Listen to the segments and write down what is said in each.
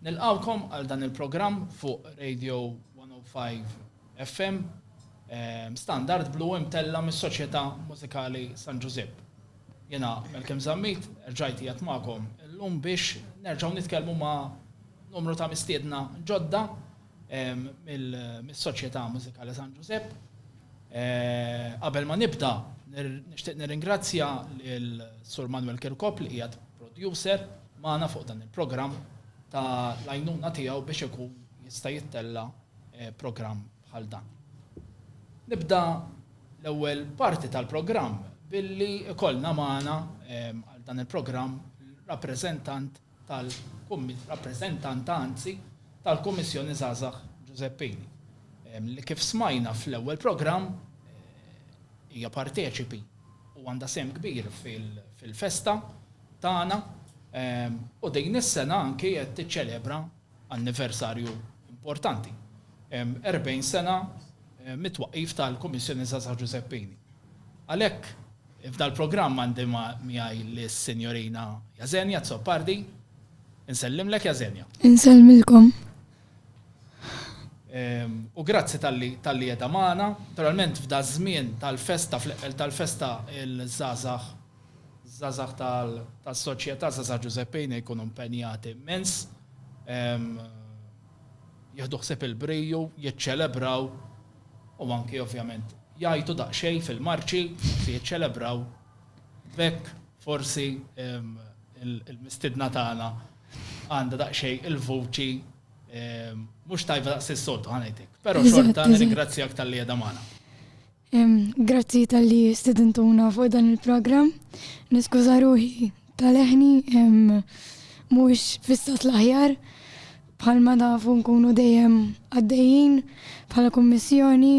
Nilqgħukom għal dan il-programm fuq Radio 105 FM ehm, Standard Blu imtella mis-Soċjetà Mużikali San Ġużipp. Jena Melkem Zammit, rġajt jgħat magħkom illum biex nerġgħu nitkellmu ma' numru ta' mistiedna ġodda mis-Soċjetà Mużikali San Ġużepp. Qabel ma nibda, nixtieq nirringrazzja lil Sur Manuel Kirkop li qiegħed producer magħna fuq dan il-programm ta' l-għajnuna tiegħu biex ikun jista' jittella' programm bħal dan. Nibda l-ewwel parti tal-programm billi jkollna magħna għal dan il-programm rappreżentant tal-Rappreżentanta, anzi, tal-Kummissjoni Żgħażagħ Giuseppini, li kif smajna fl-ewwel programm, hija parteċipi u għandha sehem kbir fil-festa tagħna u din is-sena anki qed tiċċelebra anniversarju importanti, 40 sena mit-twaqqif tal-Kummissjoni Żgħażagħ Ġużeppini. Għalhekk, f'dal-programm għandi miegħi lis-Sinjorina Jasenia Azzopardi. Insellimlek, Jasenia. Insellmilkom. U grazzi talli qiegħda magħna. Naturalment, f'daż-żmien tal-festa, fl-eqqel tal-festa, il-żgħażagħ Żgħażagħ tas-Soċjetà Żgħażagħ Ġużeppi Ejna jkunu mpenjati immens, jieħdu ħsieb il-briju, jiċċelebraw u anki ovvjament jgħajtu daqsxejn fil-marċi li jiċċelebraw. B'hekk forsi l-mistiedna tagħna għandha daqsxejn il-vuċi mhux tajba daqs is-soltu, ħa ngħid hekk. Però xorta nirringrazzjak talli qiegħda magħna. Grazzi talli stidintuna fuq dan il-programm. Niskuża ruħi tal-leħni mhux fissat l-aħjar bħalma nafu nkunu dejjem għaddejjin bħala kummissjoni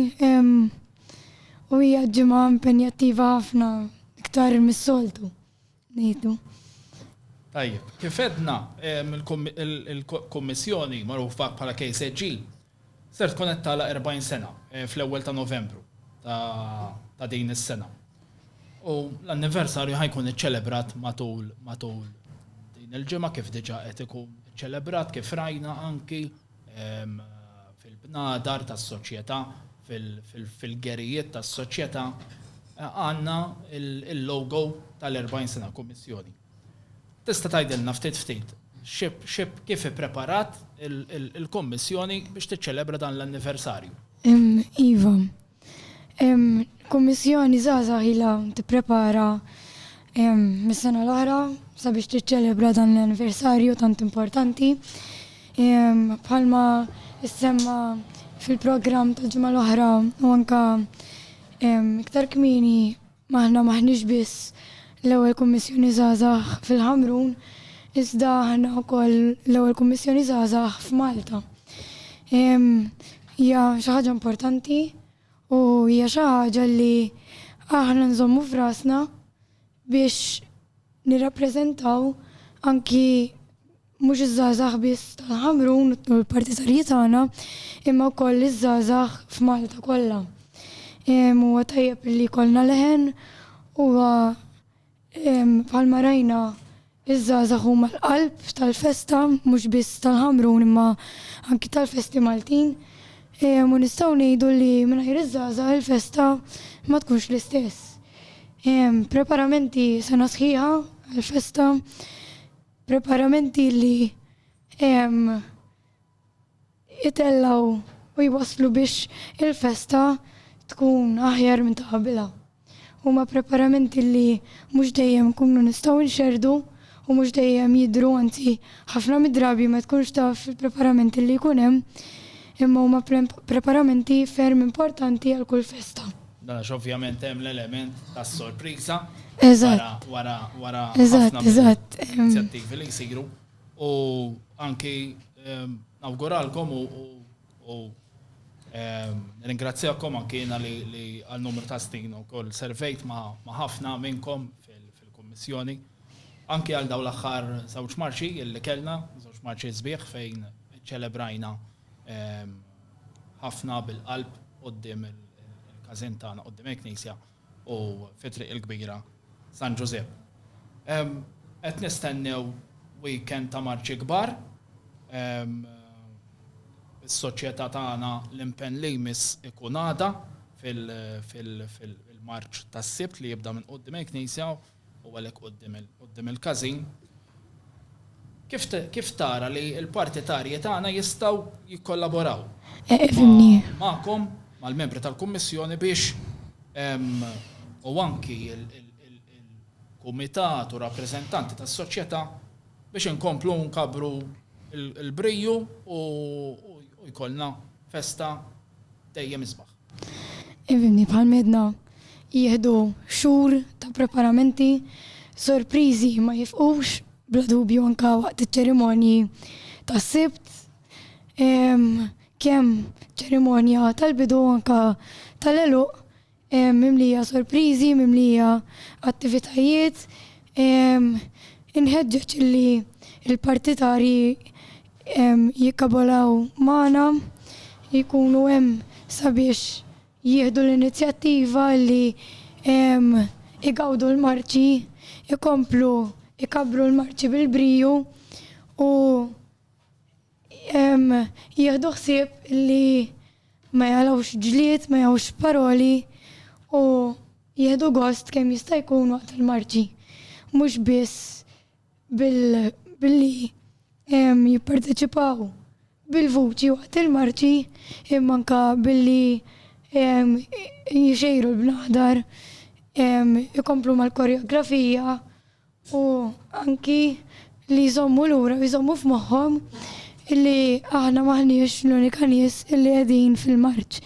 u hija ġimgħa impenjattiva ħafna iktar mis-soltu. Nejdu. Tajjeb, kif edna il-Kommissjoni magħrufa bħala KSG ser tkun qed tagħlaq 40 sena eh, fl-ewwel ta' Novembru ta' din is-sena. U l-anniversarju ħajkun iċċelebrat matul matul din il-ġimgħa kif diġà qed ikun iċċelebrat kif rajna anki fil-bnadar tas-soċjetà, fil-gerijiet tas-soċjetà, għandna il-logo tal-40 sena kummissjoni. Tista' tgħidilna ftit ftit kif ippreparat il-kummissjoni biex tiċċelebra dan l-anniversarju? Iva, Kummissjoni Żgħażagħ ilha tipprepara mis-sena l-oħra sabiex tiċċelebra dan l-anniversarju tant importanti. Bħalma semma fil-programm tal-ġimgħa l-oħra u anka iktar kmieni Ma aħna m'aħniex biss l-ewwel Kummissjoni Żgħażagħ fil-Ħamrun, iżda aħna wkoll l-ewwel Kummissjoni Żgħażagħ f'Malta. Hija xi ħaġa importanti u hija xi ħaġa li aħna nżommu f'rasna biex nirrappreżentaw anki Mhux iż-żgħażagħ biss tal-Ħamrun u l-partitarji tagħna, imma wkoll iż-żgħażagħ f'Malta kollha. Huwa tajjeb li jkollna leħen, huwa bħalma rajna iż-żgħażagħ huma l-qalb tal-festa mhux biss tal-Ħamrun imma anki tal-festi Maltin. U nistgħu ngħidu li mingħajr iż-żgħażagħ il-festa ma tkunx l-istess. Preparamenti sena sħiħa għall-festa Preparamenti li jtellgħu u jwasslu biex il-festa tkun aħjar minn ta' qabilha. Huma preparamenti li mhux dejjem inkunu nistgħu nxerrdu u mhux dejjem jidhru anzi ħafna mid-drabi ma tkunx taf il-preparamenti li jkun hemm imma huma preparamenti ferm importanti għal kull festa. Dan għax ovvjament hemm l-element tas-sorpriża wara wara inizjattivi li jsiru u anki ehm, nawguralkom u ehm, ringrazzjakom anki jiena li għal numru ta' snin ukoll servejt ma' ħafna minnkom fil-Kummissjoni anki għal dawn l-aħħar żewġ marċi li kellna, żewġ marċi sbieħ fejn ċelebrajna ehm, ħafna bil-qalb quddiem il-każin tagħna, quddiem il-Knisja u fi Triq il-Kbira San Ġużepp. Qed nistennew weekend ta' marċi kbar. Is-Soċjetà tagħna l-impenn li jmiss ikun għada fil-marċ tas-Sibt li jibda minn quddiem il-Knisja. u għalhekk quddiem il-każin, kif tara li l-partitarji tagħna jistgħu jikkollaboraw magħkom, mal-membri tal-Kummissjoni biex u anki l-kumitat u rappreżentanti tas-soċjetà biex inkomplu nkabbru l-briju u jkollna festa dejjem isbaħ? Fimni, bħal m'għedna, jieħdu xhur ta' preparamenti, sorpriżi ma jifqux, bla dubju anke waqt iċ-ċerimonji tas-Sibt, kemm ċerimonja tal-bidu u anke tal-għeluq mimlija sorpriżi, mimlija attivitajiet. Inħeġġeġ li l-partitarji jikkabolaw magħna, li jkunu hemm sabiex jieħdu l-inizjattiva li jgawdu l-marċi, ikomplu jkabbru l-marċi bil-briju u jieħdu ħsieb li ma jagħlawx ġlied, ma jagħlawx paroli u jieħdu gost kemm jista' jkun waqt il-marċi. Mhux biss billi jipparteċipaw bil-vuċi waqt il-marċi imma anka billi jixejru l-bnadar, ikomplu mal-koreografija u anki li jżommu lura u jżommu f'moħħhom illi aħna maħniex l-unika nies illi qegħdin fil-marċ.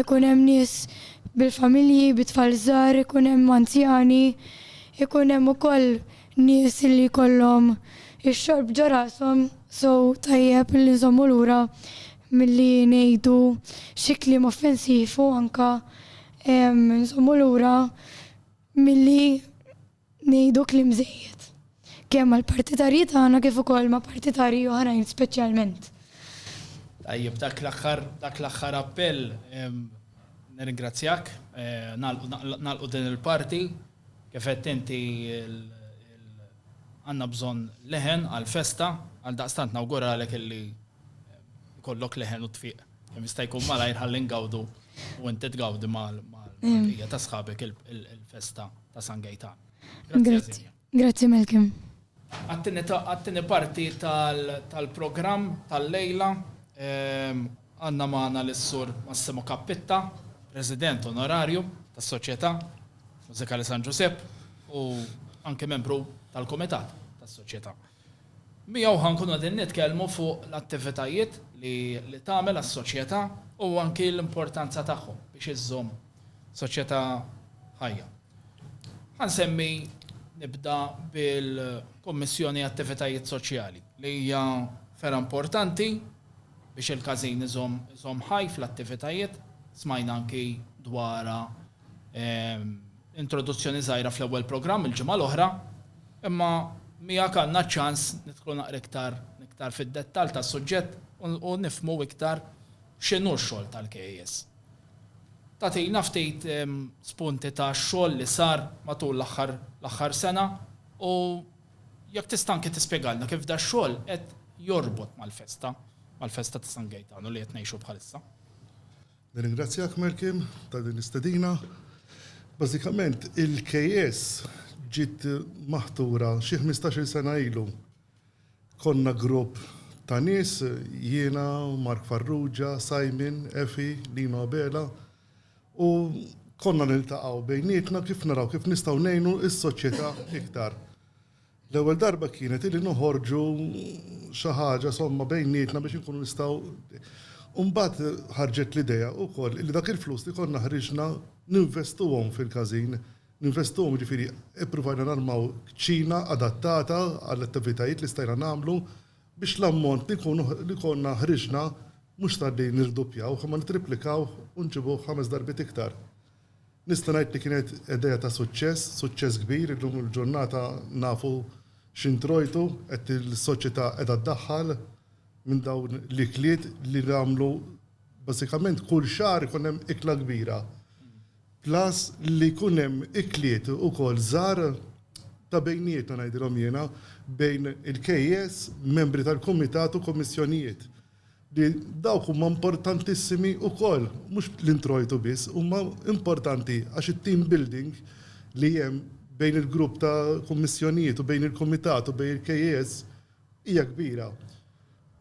Ikun hemm nies bil-familji, bit-tfal żgħar, ikun hemm anzjani, ikun hemm ukoll nies li jkollhom ix-xorb ġo rashom, so tajjeb li nżommu lura milli ngħidu xi kliem offensiv u anke nżommu lura milli ngħidu kliem żejjed, kemm mal-partitarji tagħna kif ukoll ma' partitarji oħrajn speċjalment. Tajjeb, dak l-aħħar dak l-aħħar appell nirringrazzjak, nagħlqu din il-parti. Kif għedt inti, għandna bżonn leħen għall-festa, għaldaqstant nawguralek illi jkollok leħen u tfiq kemm jista' jkun malajr ħalli ngawdu u inti tgawdi mal-bqija ta' sħabek il-festa ta' San Gejtan. Grazzi. Grazzi Malcolm. Għat-tieni parti tal-programm tal-lejla għandna magħna lis-Sur Massimo Cappitta, President Onorarju tas-Soċjetà Mużikali San Ġużepp u anke membru tal-Kumitat tas-Soċjetà. Miegħu ħa nkunu qegħdin nitkellmu fuq l-attivitajiet li tagħmel għas-Soċjetà u anke l-importanza tagħhom biex iżżomm soċjetà ħajja. Ħa nsemmi nibda bil-Kummissjoni Attivitajiet Soċjali li hija fergħa importanti biex il-każin iżomm iżomm ħaj fl-attivitajiet. Smajna anki dwarha introduzzjoni żgħira fl-ewwel programm il-ġimgħa l-oħra, imma miegħek għandna ċ-ċans nidħlu naqra iktar iktar fid-dettall tas-suġġett u nifhmu iktar x'inhu x-xogħol tal-KAS. Tagħtina ftit spunti ta' xogħol li sar matul l-aħħar l-aħħar sena u jekk tista' anke tispjegalna kif dax-xogħol qed jorbot mal-festa, mal-festa ta' San Gejtanu li qed ngħixu bħalissa. Nirringrazzjak Malcolm ta' din l-istedina. Bażikament il-KS ġiet maħtura xi ħmistax-il sena ilu Konna grupp ta' nies, jiena, Mark Farrugia, Simon, Efi, Lino Abela, u konna niltaqgħu bejnietna kif naraw kif nistgħu ngħinu s-soċjetà iktar. L-ewwel darba kienet illi noħorġu xi ħaġa somma bejnietna biex inkunu nistgħu u mbagħad ħarġet l-idea wkoll illi dak il-flus li konna ħriġna ninvestuhom fil-każin. Ninvestuhom, jiġifieri ippruvajna narmaw kċina adattata għall-attivitajiet li stajna nagħmlu biex l-ammont li jkunu li konna ħriġna mhux sar li nirduppjawh imma nittriplikawh u nġibuh ħames darbiet iktar. Nista' ngħid li kienet idea ta' suċċess, suċċess kbir, illum il-ġurnata nafu x'introjtu qed is-soċjetà qiegħda ddaħħal minn dawn l-ikliet li nagħmlu bażikament kull xahar ikun hemm ikla kbira. Plus li jkun hemm ikliet ukoll żgħar ta' bejnietna ngħidilhom jiena, bejn il-KEs, membri tal-kumitat u kummissjonijiet. Li dawk huma importantissimi ukoll, mhux l-introjtu biss, huma importanti għax it-team building li hemm bejn il-grupp ta' kummissjonijiet u bejn il-kumitat u bejn il-KEs Hija kbira.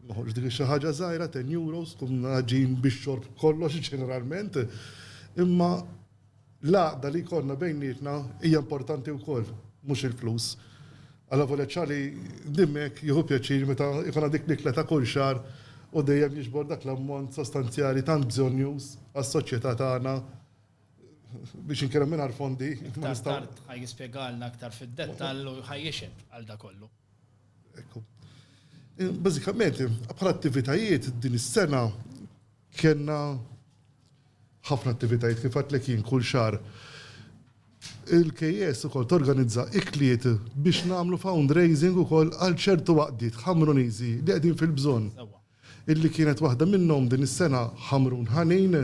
Noħorġ dik xi ħaġa żgħira, ten euros, tkun ħaġin bix-xorb kollox ġeneralment. Imma l-għaqda li jkollna bejnietna hija importanti wkoll, mhux il-flus. Alla volja Ċali dimmek jieħu pjaċir meta jkollna dik l-ikla ta' kull xahar u dejjem jiġbor dak l-ammont sostanzjali tant bżonnjuż għas-soċjetà tagħna biex inkellem mingħajr fondi. Aktar tard ħa jispjegalna aktar fid-dettall u ħa jixhed għal dakollu. Ekku. Bażikament, bħala attivitajiet din is-sena kellna ħafna attivitajiet kif għadtlek jien kull xahar. Il-KS ukoll torganizza ikliet biex nagħmlu fundraising ukoll għal ċertu għaqdiet Ħamruniżi li qegħdin fil-bżonn. Sewwa. Illi kienet waħda minnhom din is-sena Ħamrun Ħanin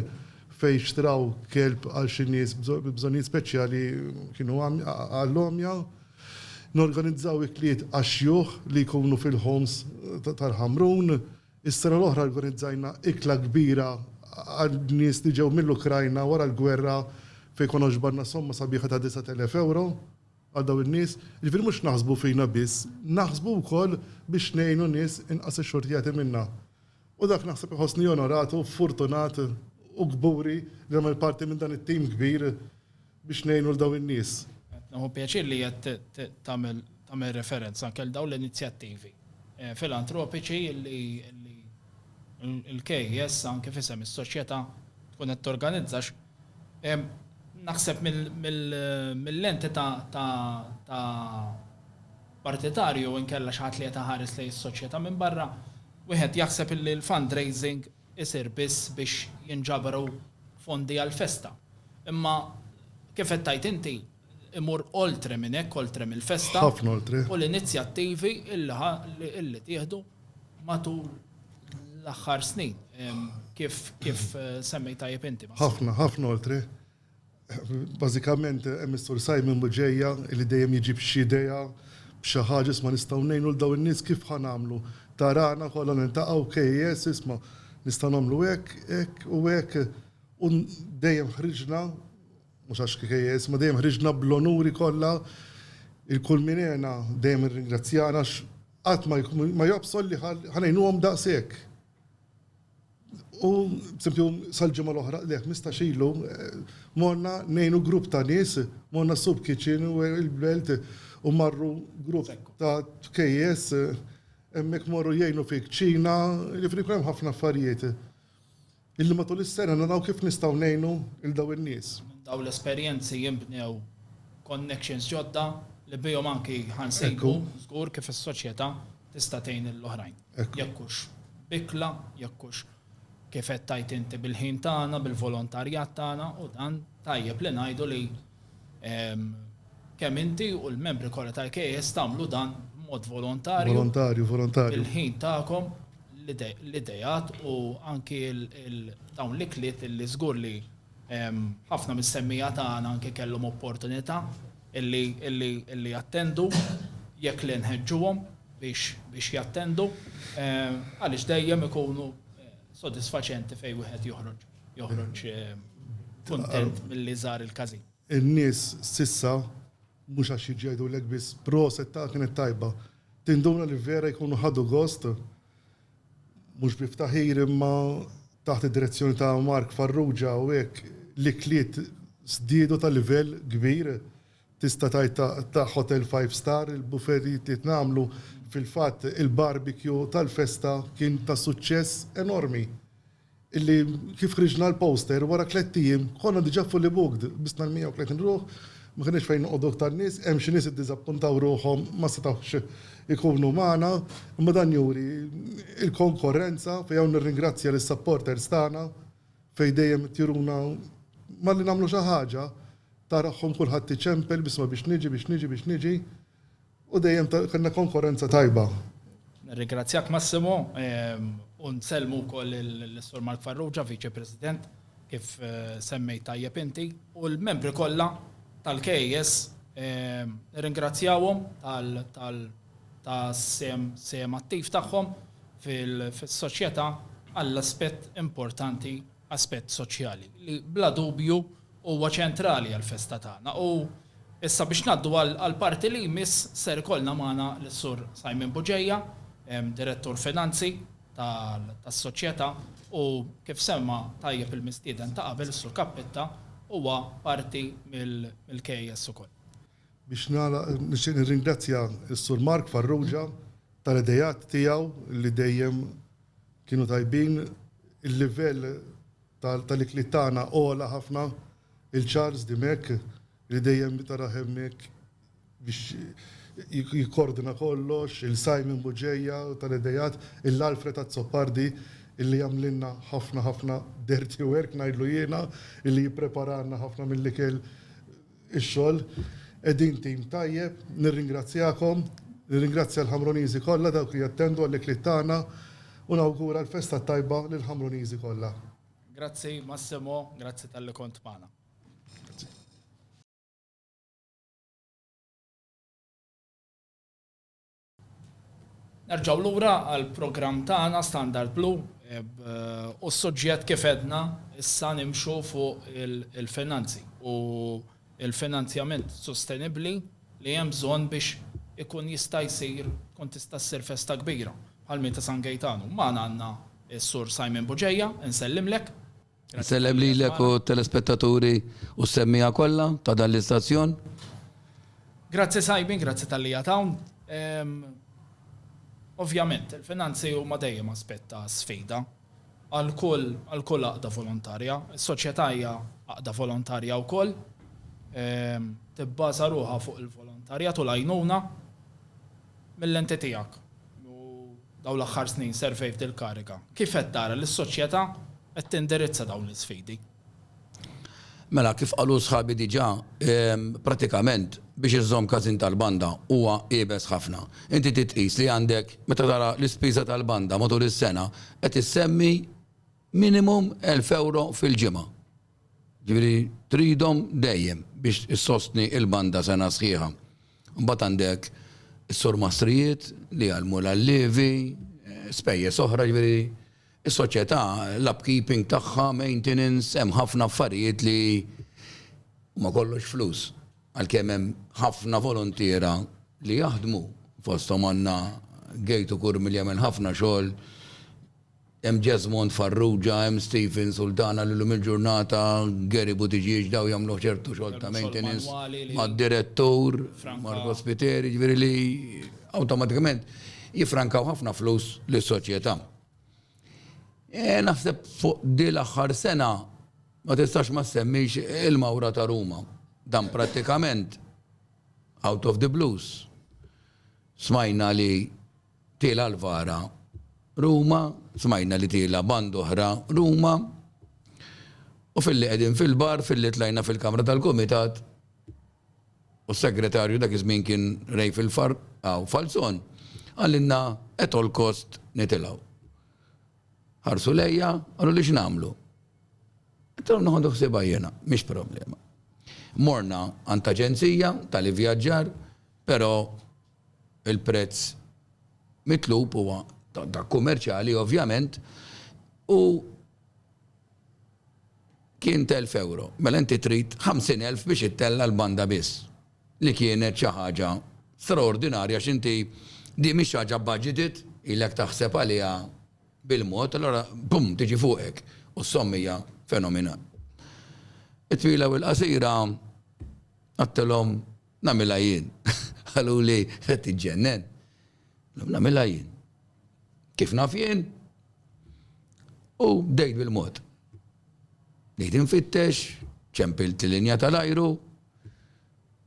fejn xtraw kelb għal xi nies bi bżonnijiet speċjali kienu għall-għomja. Norganizzaw ikliet għax-xjuħ li jkunu fil-homes tal-Ħamrun. Is-sena l-oħra organizzajna ikla kbira għal nies li ġew mill-Ukrajna wara l-gwerra fejn konna ġbarna somma sabiħa ta' 9,000 ewro. għal dawn in-nies, jiġifieri mhux naħsbu fina biss, naħsbu wkoll biex ngħinu nies inqas ixxurtjati minna. U dak naħseb iħossni onorat u furtunat u kburi li nagħmel parti minn dan it-tim kbir biex ngħinu 'l dawn in-nies. Qed nieħu pjaċir li qed tagħmel referenza anke għal dawn l-inizjattivi. eh, filantropiċi li l-KES anke fisem is-soċjetà tkun qed torganizzax. Eh, naħseb mill-lenti ta' partitarju inkella xaħat li jetaħares li s-soċjetà minn barra, wieħed jaħseb li l-fundraising isir biss biex jinġabru fondi għal-festa. Imma kif qed tajt inti, imur oltre minn hekk, oltre mill-festa. Ħafna oltre. U l-inizjattivi illi tieħdu matul l-aħħar snin. Kif kif eh, semmej tajjeb inti. Ħafna, ħafna oltre. Bażikament hemm is-sur Simon Buġeja li dejjem jiġi b'xi idea, b'xi ħaġa isma' nistgħu ngħinu l dawn in-nies kif ħa nagħmlu. Tarana kollha nintaqgħu KS isma' nistgħu nagħmlu hekk, hekk u hekk. U dejjem ħriġna Mhux għax KKS, imma dejjem ħriġna bl-onuri kollha. Il-Kulminena dejjem irringrazzjana għax qatt ma jobsgħol li ħa ngħinuhom daqshekk. U b'sempju sal-ġimgħa l-oħra, le ħmistax ilu, morna ngħinu grupp ta' nies, morna s-soup kitchen u l-belt u marru grupp ta' KKS hemmhekk morru jgħinu fil-kċina, jiġifieri jkun hemm ħafna affarijiet. Illi matul is-sena naraw kif nistgħu ngħinu lil dawn in-nies. Minn dawn l-esperjenzi jinbnew connections ġodda li bihom anki ħa nsejbu żgur kif is-soċjetà tista' tgħin lill-oħrajn. Jekk hux b'ikla, jekk hux kif qed tgħid inti bil-ħin tagħna, bil-volontarjat tagħna u dan tajjeb li ngħidu li Kemm inti u l-membri kollha tal-KS tagħmlu dan b'mod volontarju. Volontarju, volontarju. Il-ħin tagħkom, l-idejat u anki dawn l-ikliet li żgur li ħafna mis-semmija tagħna anke kellhom opportunità illi jattendu jekk li nħeġġuhom biex jattendu għaliex dejjem ikunu sodisfaċenti fejn wieħed joħroġ. joħroġ kuntent milli żar il-każin. In-nies s'issa mhux għax jiġu jgħidulek biss proset ta' kienet tajba. Tinduna li vera jkunu ħadu gost mhux bi ftaħir imma taħt id-direzzjoni ta' Mark Farrugia u hekk l-ikliet żdiedu ta' livell kbir. Tista' tgħid ta' hotel five star il-buffet li tnagħmlu. Fil-fatt il-barbecue tal-festa kien ta' suċċess enormi. illi kif ħriġna l-poster wara tlett ijiem konna diġà fully booked, bisna l-130 ruħ, ma kenniex fejn noqogħdu iktar nies, hemm xi nies iddiżappuntaw ruħhom ma setgħux ikunu magħna, imma dan juri l-konkorrenza fejn hawn nirringrazzja lis-supporters tagħna fejn dejjem qed juruna malli nagħmlu xi ħaġa tara ruħhom kulħadd iċempel b'isma' biex niġi, biex niġi, biex niġi. U dejjem kellna konkorrenza tajba. Nirringrazzjak Massimo u nsellmu wkoll lis-Sur Mark Farrugia, Viċi President, kif semmejt tajjeb inti, u l-membri kollha tal-KAS nirringrazzjahom tas-sehem attiv tagħhom fis-soċjetà għall-aspett importanti, aspett soċjali, li bla dubju huwa ċentrali għall-festa tagħna u issa biex ngħaddu għall-parti li jmiss ser ikollna magħna lis-Sur Simon Buġeja, Direttur Finanzi tas-Soċjetà u kif semma tajjeb il-mistieden ta' qabel is-Sur Cappitta huwa parti mill-KAS ukoll. Biex nagħlaq nixtieq nirringrazzja lis-Sur Mark Farrugia tal-ideat tiegħu li dejjem kienu tajbin, il-livell tal-ikliet tagħna ogħla ħafna, il-Charles Dimech li dejjem taraħ hemmhekk biex jikkordina kollox, il-Simon Bugeja tal-ideat, il-Alfred Azzopardi illi jagħmlilna ħafna ħafna dirty work ngħidlu jiena, illi jippreparalna ħafna mill-ikel ix-xogħol. Qegħdin tim tajjeb. Nirringrazzjakom. Nirringrazzja l-Ħamruniżi kollha dawk li jattendu għall-ikliet tagħna u nawgura l-festa t-tajba lill-Ħamruniżi kollha. Grazzi Massimo, grazzi talli kont magħna. Nerġgħu lura għall-programm tagħna Standard Blue u s-suġġett kif għedna issa nimxu fuq il-finanzi u l-finanzjament sostenibbli li hemm bżonn biex ikun jista' jsir, tkun tista' ssir festa kbira bħal minn ta' San Gejtanu. Magħna għandna s-Sur Simon Bugeja, insellimlek. Insellem lilek u t-telespettaturi u s-semmiegħa kollha ta' dan l-istazzjon. Grazzi Simon, grazzi talli qiegħed hawn. Ovvjament, il-finanzi huma dejjem aspett ta' sfida għal kull għal kull għaqda volontarja. Is-soċjetà hija għaqda volontarja wkoll, tibbaża ruħha fuq il-volontarjat u l-għajnuna. Mil-lenti tiegħek, u dawn l-aħħar snin servejt il-kariga, kif qed tara li s-soċjetà qed tindirizza dawn l-isfidi? Mela, kif qalu sħabi diġà, prattikament biex iżżomm każin tal-banda huwa iebes ħafna. Inti trid tqis li għandek, meta tara l-ispiża tal-banda matul is-sena, qed issemmi minimum elf ewro fil-ġimgħa. Ġifieri tridhom dejjem biex issostni l-banda sena sħiħa. Imbagħad għandek is-surmastrijiet li jgħallmu l-allievi, spejjeż oħra, ġifieri s-soċjetà, l-upkeeping tagħha, maintenance, hemm ħafna affarijiet li huma kollox flus. Għalkemm hemm ħafna voluntiera li jaħdmu, fosthom għandna Gate Ukur milli jagħmel ħafna xogħol Hemm Jesmond Farrugia, hemm Stephen Sultana li llum il-ġurnata, Gary Buttigieg, dawn jagħmlu ċertu xogħol ta' maintenance mad-direttur, Marco Spiteri, jiġifieri li awtomatikament jiffrankaw ħafna flus lis-soċjetà. Naħseb fuq din l-aħħar sena ma tistax ma ssemmix il-mawra ta' Ruma. Dan prattikament out of the blues smajna li Tiela' l-vara Ruma, smajna li tiela' band'oħra Ruma, u filli qegħdin fil-bar, filli tlajna fil-kamra tal-kumitat, u s-segretarju dak iż-żmien kien Ray Filfar, hawn Falzon, qalilna at all cost nitilgħu. Ħarsu lejja, qaluli x'nagħmlu? Għedtilhom noħodu ħsiebha jiena, mhix problema. Morna għand aġenzija tal-ivvjaġġar, però Il-prezz mitlub huwa dak kummerċjali ovvjament u kien t'elf ewro. Mela inti trid ħamsin elf biex ittella' l-banda biss, li kienet xi ħaġa straordinarja għax inti din mhix xi ħaġa budgeted, ilek taħseb għaliha bil-mod, allura bum tiġi fuqek u s-somma hija fenomenali. It-twila u l-qasira, għedtilhom, Nagħmilha jien. Qaluli qed tiġġennen. Nagħmilha jien. Kif naf jien? U bdejt bil-mod. Bdejt infittex, ċempilt l-linja tal-ajru,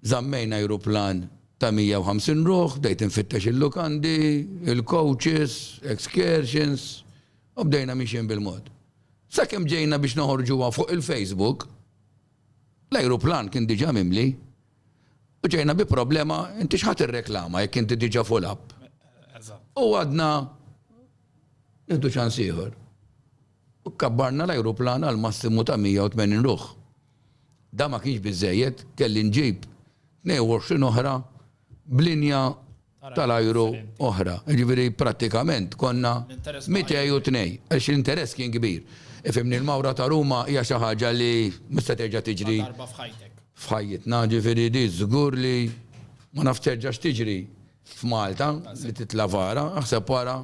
zammejn ajruplan ta' 150 ruħ, bdejt infittex il-lukandi, il-coaches, excursions, u bdejna miexin bil-mod. Sakemm ġejna biex noħorġuha fuq il-Facebook, L-ajruplan kien diġà mimli u ġejna bi problema, inti x'ħa tirreklama jekk inti diġà full up? U għadna nieħdu ċans ieħor. U kabbarna l-ajruplan għal massimu ta' 180 ruħ. Dan ma kienx biżżejjed, kelli nġib 22 oħra b'linja tal-ajru oħra. Jiġifieri prattikament konna mitej u tnej, għax l-interess kien kbir. Ifhimni, l-mawra ta' Ruma hija xi ħaġa li mhux se terġa' tiġri f'ħajjitna, jiġifieri di żgur li ma nafx terġax tiġri f'Malta li titla' vara, aħseb wara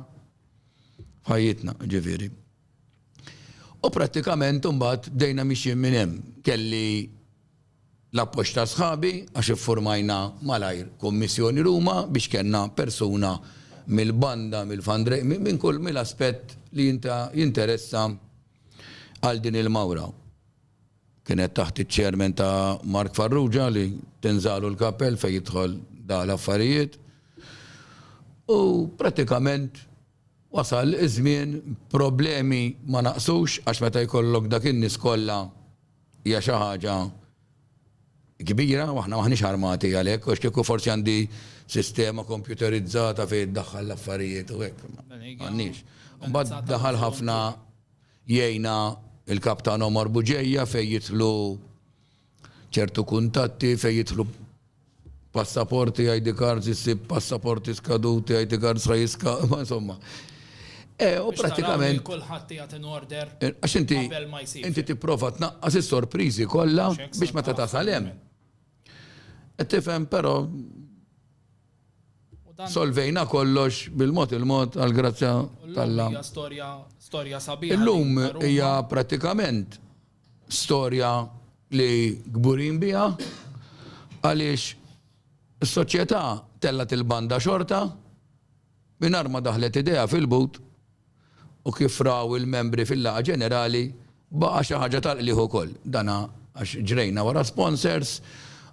f'ħajjitna, jiġifieri. U prattikament imbagħad bdejna mixjin minn hemm. Kelli L-appoġġ ta' sħabi għax iffurmajna malajr kummissjoni Ruma biex kellna persuna mill-banda, mill-fundraising, minn kull, mill-aspett li jinteressa għal din il-mawra. Kienet taħt iċ-chairman ta' Mark Farrugia li tinżagħlu l-kappell fejn jidħol da l-affarijiet. U prattikament. Wasal iż-żmien, problemi ma naqsux għax meta jkollok dak in-nies kollha hija xi ħaġa kbira u aħna m'aħniex armati għalhekk għax kieku forsi għandi sistema kompjuterizzata fejn iddaħħal l-affarijiet u hekk imma m'għandniex. Imbagħad daħal ħafna jgħinna l-Kap tagħna Omar Bugeja fejn jidħlu ċertu kuntatti fejn jidħlu passaporti, ID cards, issib passaporti skaduti, ID cards sa jiska, ma insomma. E, u pratikament. Kulħadd jagħti in order. E, għax inti. Inti tipprova tnaqqas is-sorpriżi kollha biex meta tasal hemm. E, tifhem però solvejna kollox bil-mod il-mod għal grazzja tal-lam. Storja storja sabiħa. Illum hija pratikament Storja li kburin biha għaliex is-soċjetà tellgħet il-banda xorta mingħajr ma daħlet idejha fil-but u kif raw il-membri fil-laqgħa ġenerali baqa' xi ħaġa tal-qligħ ukoll dan għax ġrejna wara sponsors,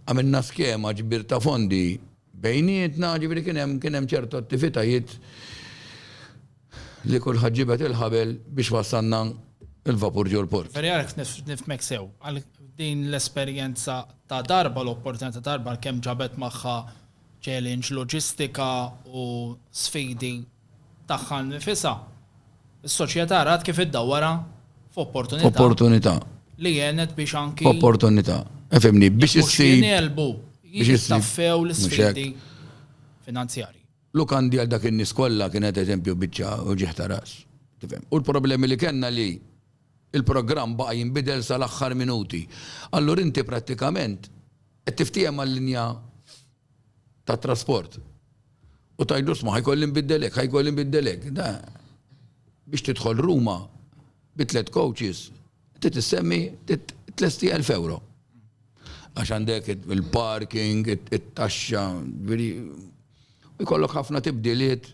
għamilna skema ġbir ta' fondi bejnietna, ġifieri kien hemm kien hemm ċertu attivitajiet. li kulħadd ġibed il-ħabel biex wassalna l-vapur ġol-port. Veri għalek nifmek sew, għal din l-esperjenza ta' darba l-opportunità ta' darba kemm ġabet magħha challenge loġistika u sfidi tagħha nifisa. Is-soċjetà rat kif iddawwara f'opportunità. Opportunità. Li jenet biex anki. Opportunità. Efemni, biex issib. Biex jistaffew l-sfidi finanzjari. Lukandi għal dak in-nies kollha kienet eżempju biċċa uġigħ ta' ras. Tifhem? U l-problemi li kellna li l-programm baqa' jinbidel sal-aħħar minuti. Allura inti prattikament qed tiftiehem mal-linja tat-trasport u tgħidlu sma' ħa jkolli nbiddel hekk, ħa jkolli nbiddel hekk. Da biex tidħol Ruma bi tliet coaches Trid issemmi tlesti elf euro. Għax għandek il-parking, it-taxxa, veri, jkollok ħafna tibdiliet.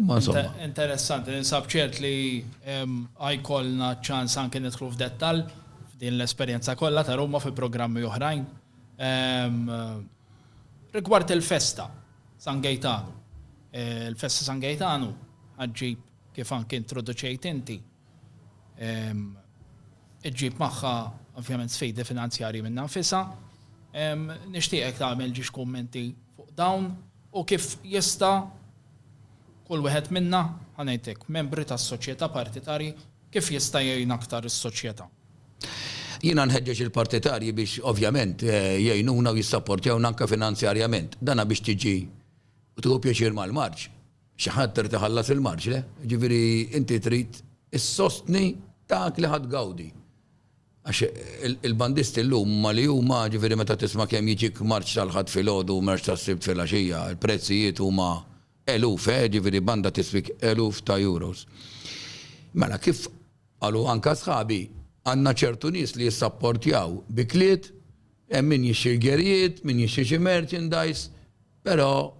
Ma insomma. Interessanti, ninsab ċert li għajkolna ċans anke nidħlu f'dettal f'din l-esperjenza kollha ta' Ruma fi programmi oħrajn. Rigward il-festa San Gejtanu. Il-festa San Gejtanu ħaġġib kif anke introduċejt inti Iġġib magħha ovvjament sfidi finanzjarji minnha nfisha. Nixtieqek tagħmel ġiex kummenti fuq dawn u kif jista' kull wieħed minna, ħa ngħidlek, membri tas-soċjetà partitarji, kif jista' jgħin aktar is-soċjetà. Jiena nħeġġeġ il-partitarji biex ovvjament jgħinuna u jissapportjawna anke finanzjarjament. Dan biex tiġi u tieħu pjaċir mal-marċ. Xi ħadd irid iħallas il-marġle, jiġifieri inti trid issostni dak li ħa tgawdi. Għax il-bandisti llum huma li huma, jiġifieri meta tisma' kemm jiġik marċ tal-Ħadd filgħodu u marċ tas-Sibt filgħaxija, il-prezzijiet huma eluf, eh, jiġifieri banda tiswik eluf ta' euros. Mela kif qalu anke sħabi, għandna ċertu nies li jissapportjaw bi kliet, hemm min jixtri l-gerijiet, min jixtri xi merchandise, però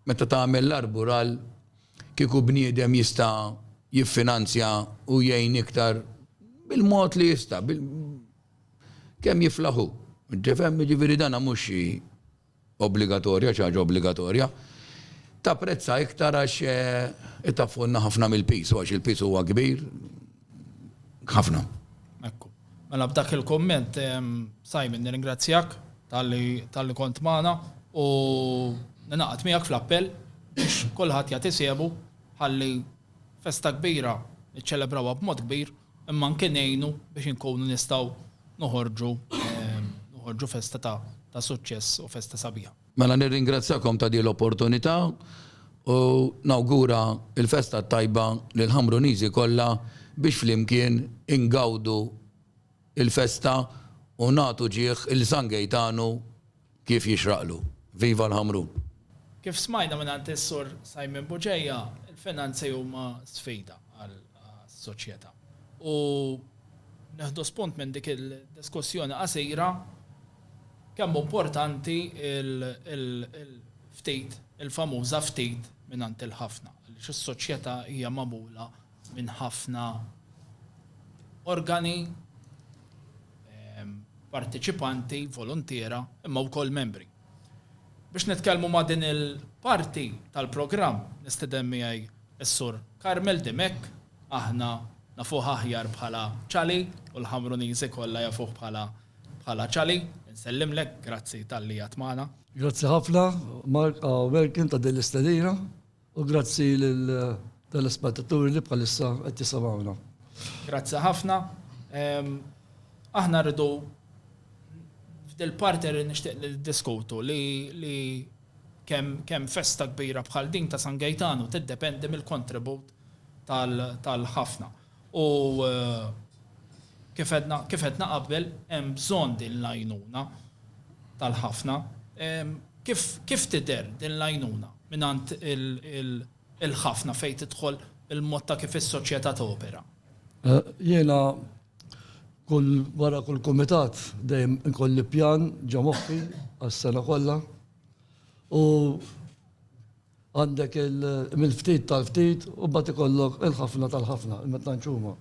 Meta tagħmel l-arbur għal kieku bniedem jista' jiffinanzja u jgħin iktar bil-mod li jista', kemm jiflaħ hu. Tifhem? Jiġifieri dan mhux xi obbligatorja, xi ħaġa obbligatorja. Tapprezza iktar għax itaffu lna ħafna mill-piż, u għax il-piż huwa kbir, ħafna. Ekku. Mela b'dak il-komment, Simon, nirringrazzjak tal-li kont maħna u naqat miegħek fl-appell biex kolħat jagħti siebu ħalli festa kbira niċċelebrawha b'mod kbir imma nkien ngħinu biex inkunu nistgħu noħorġu festa ta' suċċess u festa sabiħa. Mela nirringrazzjakom ta' din l-opportunità u nawgura l-festa t-tajba lill-Ħamruniżi kollha biex flimkien ingawdu l-festa u nagħtu ġieħ 'l San Gejtanu kif jixraqlu. Viva l-Ħamrun! Kif smajna mingħand is-Sur Simon Bugeja, il-finanzi huma sfida għas-soċjetà u nieħdu spunt minn dik id-diskussjoni qasira, kemm hu importanti l-ftit, il-famuża ftit mingħand il-ħafna, għaliex is-soċjetà hija magħmula minn ħafna organi, parteċipanti, voluntiera, imma wkoll membri. Biex nitkellmu ma' din il-parti tal-programm nistiden miegħi s-Sur Carmel Dimech, aħna nafuh aħjar bħala Chali u l-Ħamruniżi kollha jafuh bħala Bħala Ċali, insellimlek, grazzi talli għadt magħna. Grazzi ħafna, Mark A. Welkin ta' din l-istedina u grazzi lill-telespettaturi li bħalissa qed jisimgħuna. Grazzi ħafna. Aħna rridu f'dil-parti li nixtieq li niddiskutu li kemm festa kbira bħal din ta' San Gejtanu tiddependi mill-kontribut tal-ħafna. U kif għedna, kif għedna qabel, hemm bżonn din l-għajnuna tal-ħafna. Kif, kif tidher din l-għajnuna mingħand il-ħafna fejn tidħol il-mod ta' kif is-soċjetà topera? Jiena kull, wara kull kumitat dejjem inkolli pjan ġo moħħi għas-sena kollha u Għandek il-mill-ftit tal-ftit u mbagħad ikollok il-ħafna tal-ħafna, imma tantx huma.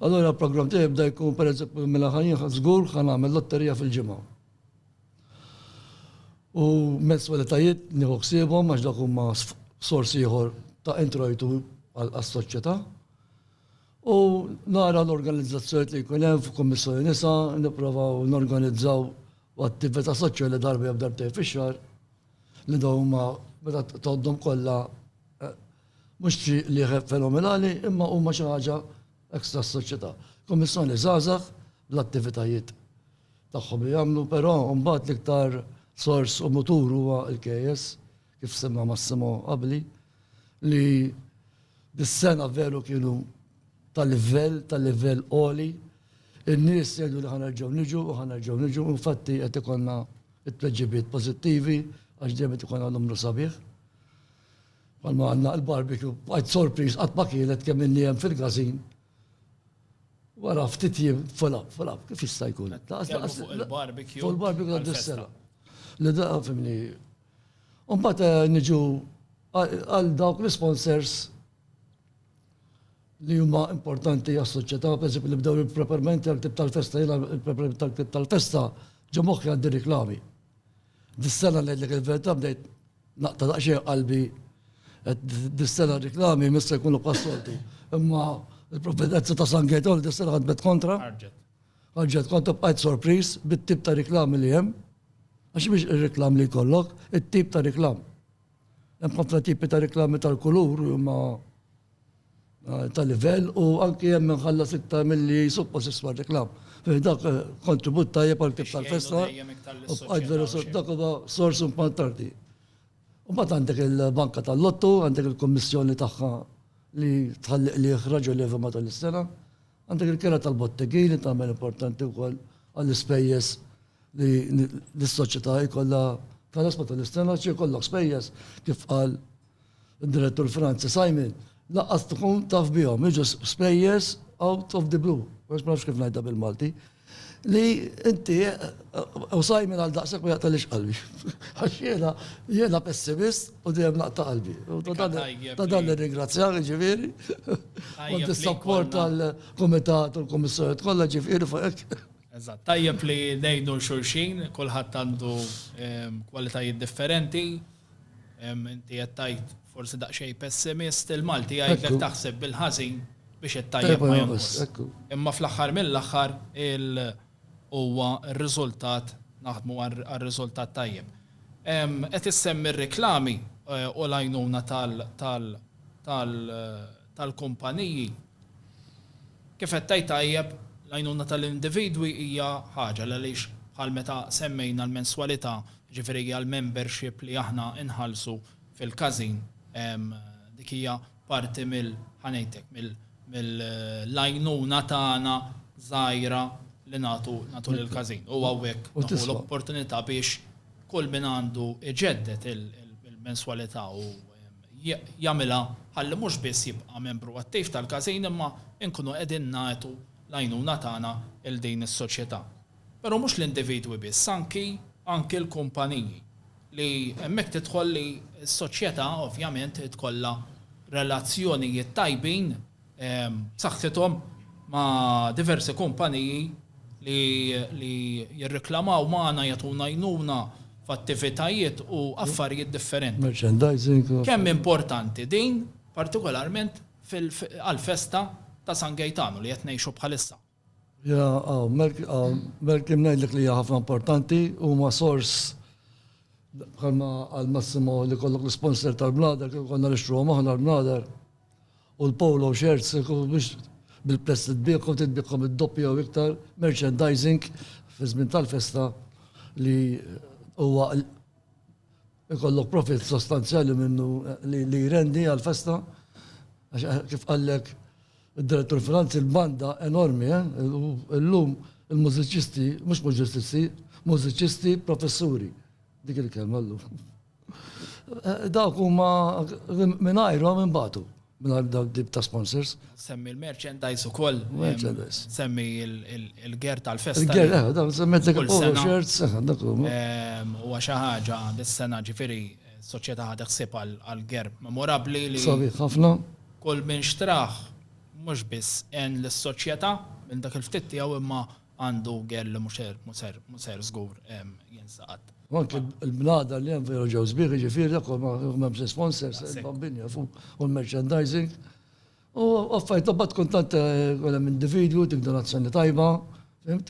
Allura l-programm tiegħi bda jkun pereżempju mela ħa jien żgur ħa nagħmel lotterija fil-ġimgħa. U menswalitajiet nieħu ħsiebhom għax dawk huma sors ieħor ta' introjtu għas-soċjetà. U nara l-organizzazzjonijiet li jkun hemm f'Kummissjoni Nisa, nipprovaw norganizzaw attività soċjali darba jew darbtejn fix-xahar. Li dawn huma meta tgħoddhom kollha eh, mhux xi lieħe fenomenali imma huma xi ħaġa ekstra s-soċjetà. Kummissjoni żgħażagħ bl-attivitajiet tagħhom li jagħmlu, però mbagħad l-iktar sors u mutur huwa l-KS kif semma Massimo qabli li dis-sena veru kienu tal-livell, tal-livell oli, In-nies jgħidu li ħa nerġgħu niġu u ħa nerġgħu niġu, u infatti qed ikollna t-tweġibiet pożittivi għax dejjem qed ikollna numru sabiħ. Bħalma għandna l-barbecue, bqajt sorpriż qatt ma kielet kemm inni hemm fil-każin. Wara ftit jiem full up, full up, kif jista' jkun? Fuq il-barbecue. Fuq il-barbecue ta' dis-sena. Li da, fimni. Mbagħad niġu għal dawk l-isponsors li huma importanti għas-soċjetà, pereżempju li bdew il-preparamenti għall-ktieb tal-festa, jiena il-preparamenti tal-ktieb tal-festa ġo moħħi għandi riklami. Dis-sena ngħidlek il-verità bdejt naqta' daqsxejn qalbi dis-sena riklami mista jkunu passoltu. Imma il-provvidenza ta' San Getol dis-sena ħadmet kontra. Ħarġet kontra bqajt sorpriż bit-tip ta' riklami li hemm. Għax biex ir-reklam li jkollok, it-tip ta' reklam. Hemm ħafna tipi ta' reklami tal-kulur li huma ta' livell u anki hemm inħallas iktar milli suppost jiswa r-reklam. Fi dak kontribut tajjeb għal kif tal-festa u bqajt vera dak huwa sors importanti. U mbagħad għandek il-banka tal-lottu, għandek il-kummissjoni tagħha li tħalli qligħ raġonevoli matul is-sena. Għandek il-kera tal-botteghi li tagħmel importanti wkoll għall-ispejjeż li s-soċjetà jkollha tħallas meta l-istennard xi jkollok spejjeż kif qal id-Direttur Franzi Simon lanqas tkun taf bihom, jiġu spejjeż out of the blue, għax ma nafx kif ngħidha bil-Malti, Li inti, u Simon għal daqshekk ma jaqtagħlix qalbi. Għax jiena, jiena pessimist u dejjem naqta' qalbi. U ta' dan, ta' dan nirringrazzjak, jiġifieri. U dis-sapport tal-kumitat u l-kummissjonijiet kollha, jiġifieri fuq hekk. Eżatt. Tajjeb li ngħinu 'l xulxin, kulħadd għandu kwalitajiet differenti. Inti qed tgħid forsi daqsxejn pessimist il-Malti jgħidlek taħseb bil-ħażin biex it-tajjeb ma jonqos. Imma fl-aħħar mill-aħħar huwa r-riżultat naħdmu għar-riżultat tajjeb. Qed issemmi r-riklami u l-għajnuna tal- tal-kumpaniji. Kif qed tgħid tajjeb, l-għajnuna tal-individwi hija ħaġa, għaliex bħal meta semmejna l-menswalità, jiġifieri hija l-membership li aħna nħallsu fil-każin, dik hija parti mill-, ħa ngħidlek, mill-għajnuna tagħna żgħira li nagħtu lill-każin. U hawnhekk nieħu l-opportunità biex kull min għandu jġedded il-menswalità u jagħmilha ħalli mhux biss jibqa' membru attiv tal-każin imma nkunu qegħdin nagħtu l-għajnuna tagħna 'l din is-soċjetà. Però mhux l-individwi biss, anki anki l-kumpaniji li hemmhekk tidħol li s-soċjetà ovvjament trid tkollha relazzjonijiet tajbin b'saħħithom ma' diversi kumpaniji li jirriklamaw magħna, jagħtuna għajnuna f'attivitajiet u affarijiet differenti. Merchandising. Kemm importanti din, partikolarment għall-festa ta' San Gejtanu li qed ngħixu bħalissa. Malcolm ngħidlek li hija ħafna importanti, huma sors bħalma qal Massimo li jkollok l-isponsor tal-bladar, kieku konna nixtruhom aħna l-bladar u l-polo shirts kieku biex bil-prezz li tbiegħhom kont tbiegħhom id-doppju jew iktar, merchandising fiż-żmien tal-festa li huwa jkollok profitt sostanzjali minnu li jrendi għall-festa għax kif qallek Id-Direttur Franz il-banda enormi eh u illum il-mużiċisti mhux muġististi mużiċisti professuri. Dik il-kelma llum. Dawk huma mingħajrhom imbagħtu mingħajr dawn tip ta' sponsors. Semmi l-merchandise ukoll. Merchandise. Semmi il-ger tal-festa. Il-ger, eh, dawn semmi dik il-polo shirts, eh, dak huma. Ehm, u xi ħaġa dis-sena ġifieri soċjetà ħadet ħsieb għal-ger memorabbli li. Sabiħ ħafna. Kull min xtrah mhux biss għen lis-soċjetà minn dak il-ftit tiegħu imma għandu gher li mhu ser żgur jinsaqat. U anke l-bnadar li hemm vera ġew sbieħ, jiġifieri dak kollu ma hemmx l-isponsors, il-bambini jafu u l-merchandising. U affarijiet imbagħad tkun tant ikun hemm individwu dik donazzjoni tajba, fimt?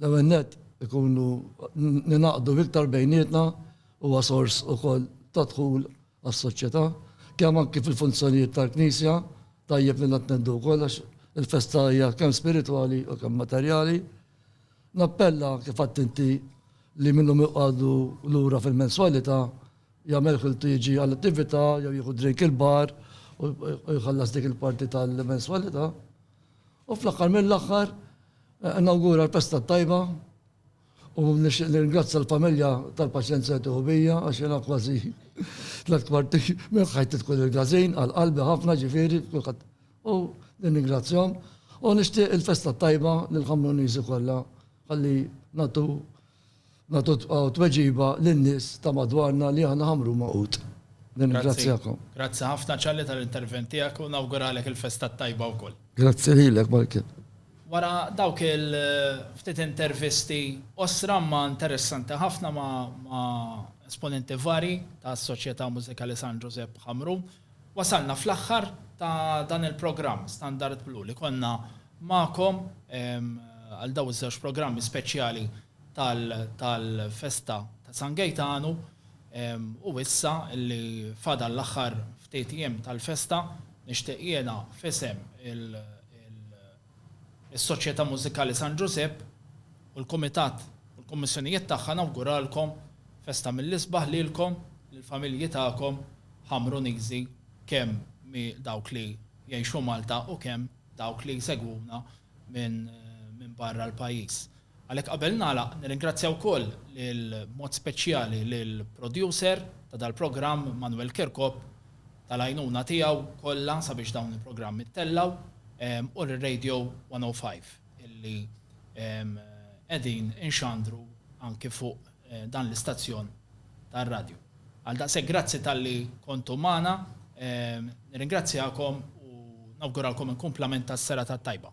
L-ewwel nett ikunu ningħaqdu iktar bejnietna huwa sors ukoll ta' dħul għas-soċjetà, kemm anki fil-funzjonijiet tal-Knisja, tajjeb li nattendu wkoll għax il-festa hija kemm spiritwali u kemm materjali. Nappella, kif għidt inti, li min hu miqgħdu lura fil-menswalità jagħmel ħiltu jiġi għall-attività jew jieħu drink il-bar u jħallas dik il-parti tal-menswalità. U fl-aħħar mill-aħħar, nawgura l-Festa t-Tajba u nixtieq nirringrazzja l-familja tal-paċenzja li tieħu bija għax jiena kważi tlett kwarti minn ħajti tkun il-każin għal qalbi ħafna ġifieri kulħadd u nirringrazzjahom u nixtieq il-Festa t-Tajba lill-Ħamruniżi kollha ħalli nagħtu nagħtu tweġiba lin-nies ta' madwarna li aħna ħamrun ma' ħut. Nirringrazzjakom. Grazzi ħafna Charlie tal-intervent tiegħek u nawguralek il-festa t-tajba wkoll. Grazzi lilek Michael. Wara dawk il-ftit intervisti qosra imma interessanti ħafna ma' esponenti varji tas-Soċjetà Mużikali San Ġużepp Ħamrun, Wasalna fl-aħħar ta' dan il-programm Standard Blu li konna magħkom għal dawn iż-żewġ programmi speċjali tal-festa ta' San Gejtanu u issa li fadal l-aħħar ftit ijiem tal-festa nixtieq jiena f'isem il Is-Soċjetà Mużikali San Ġużepp u l-Kumitat u l-Kummissjonijiet tagħha nawguralkom festa mill-isbaħ lilkom, lill-familji tagħkom, Ħamruniżi, kemm mi dawk li jgħixu Malta u kemm dawk li jsegwuna minn barra l-pajjiż. Għalhekk qabel nagħlaq nirringrazzja wkoll lil b'mod speċjali lil producer ta' dal-programm Manuel Kirkop tal-għajnuna tiegħu kollha sabiex dawn il-programmi ttellgħu u lil Radio 105 illi qegħdin inxandru anki fuq dan l-istazzjon tar-radju. Għal daqshekk grazzi talli kontu magħna, nirringrazzjakom u nawguralkom inkumplament tas-serata t-tajba.